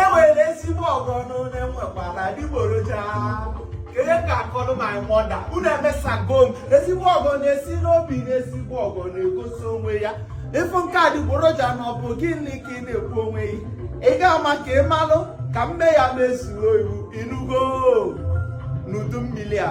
e nwere ezigbo ọgọ nụ na enwekwara adịgboroja onye ka akọrọ my mother unu emesago m ezigbo ọgọ na-esi n'obi na ezigbo ọgọ na-egosi onwe ya ị fụ nke adịgboroja na ọ bụ gịnị ka ị na-ekwu onwe gị ị ga-ama ka ị malụ ka m mee ya mezuo iwu ị nụgo n'udu mmiri a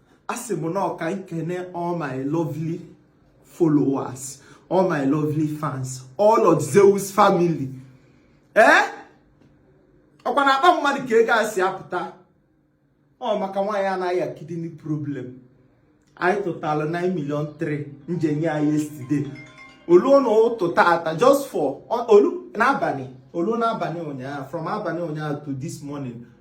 asị m na ọ ka m kene all my lovely followers all my lovely fans all of Zeus family ee eh? ọkwa na akpa mmadụ ka ego a si apụta ọ maka nwaanyị a na-aya kidney problem anyị tụtalụ 9 million 3 m je nye ya yesterday olu n'ụtụtụ taa just for olu n'abalị olu n'abalị ụnyaahụ from abalị ụnyaahụ to this morning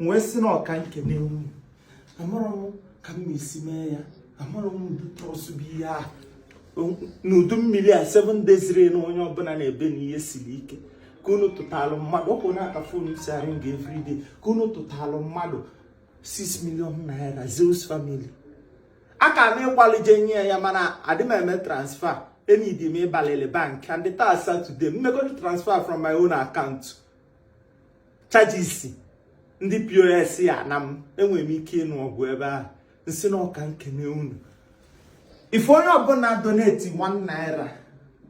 m wee sị na ọ ka m kene unu amarọ m ka m esi mee ya amarọ m ụdị trust bụ ihe a n'udu mmiri a 7 days rain onye ọbụla na-ebe na ihe siri ike ka unu tụtalụ mmadụ ọ bụ na aka fon si arụ nga everyday ka unu tụtalụ mmadụ 6 million naira Zeus family aka na ịkwalị je nye ya mana adị m eme transfer e needi m ịbalịlị bank and taa Saturday m mekọ the transfer from my own account charges ndị POS ya na m enwere m ike ịnụ ọgụ ebe ahụ m sị na ọ ka m kene unu ife onye ọbụla donate 1 naira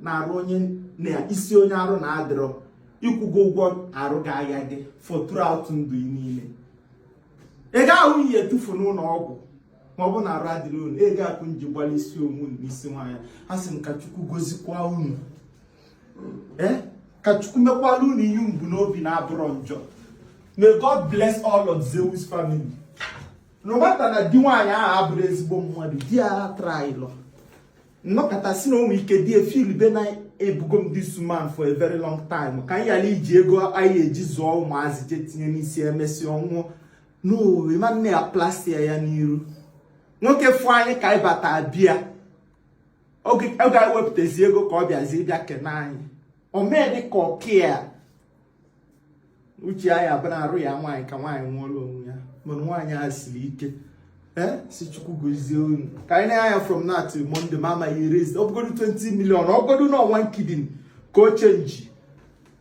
n'arụ onye n'isi onye arụ na-adịrọ ị kwụgo ụgwọ arụ ga-ahịa gị for throughout ndụ niile ego ahụ ị ya-etufu n'ụlọ ọgwụ ma ọ bụ na arụ adịrọ unu ego a ka unu ji gbalị isi onwe unu n'isi nwaanyị a asị m ka Chukwu gozikwa unu eh? ka Chukwu mekwalụ unu ihe unu bu n'obi na-abụrọ njọ may God bless all of Zeus family no matter na di nwaanyị ahụ abụrọ ezigbo mmadụ di ya atryrọ m nọkata sị na o nwe ike di e feel be na ebugo m this woman for a very long time ka m yala iji ego anyị eji zụọ ụmụazị jee tinye n'isi emesịa ọ nwụọ na ụmụnne ya plastia ya n'iru nwoke fụ anyị ka anyị bata bịa oge ewepụtazi ego ka ọ bịazi bịa kene anyị o mee dị ka ọ care uche ya bụ na arụ ya nwaanyị ka nwaanyị nwụọlụ onwe ya mana nwaanyị a siri ike ee sị Chukwu gozie unu ka anyị na-anya from now to Monday ma amaghị e raise ọ bụgodu 20 million ọ bụgodu na ọ one kidney ka ọ change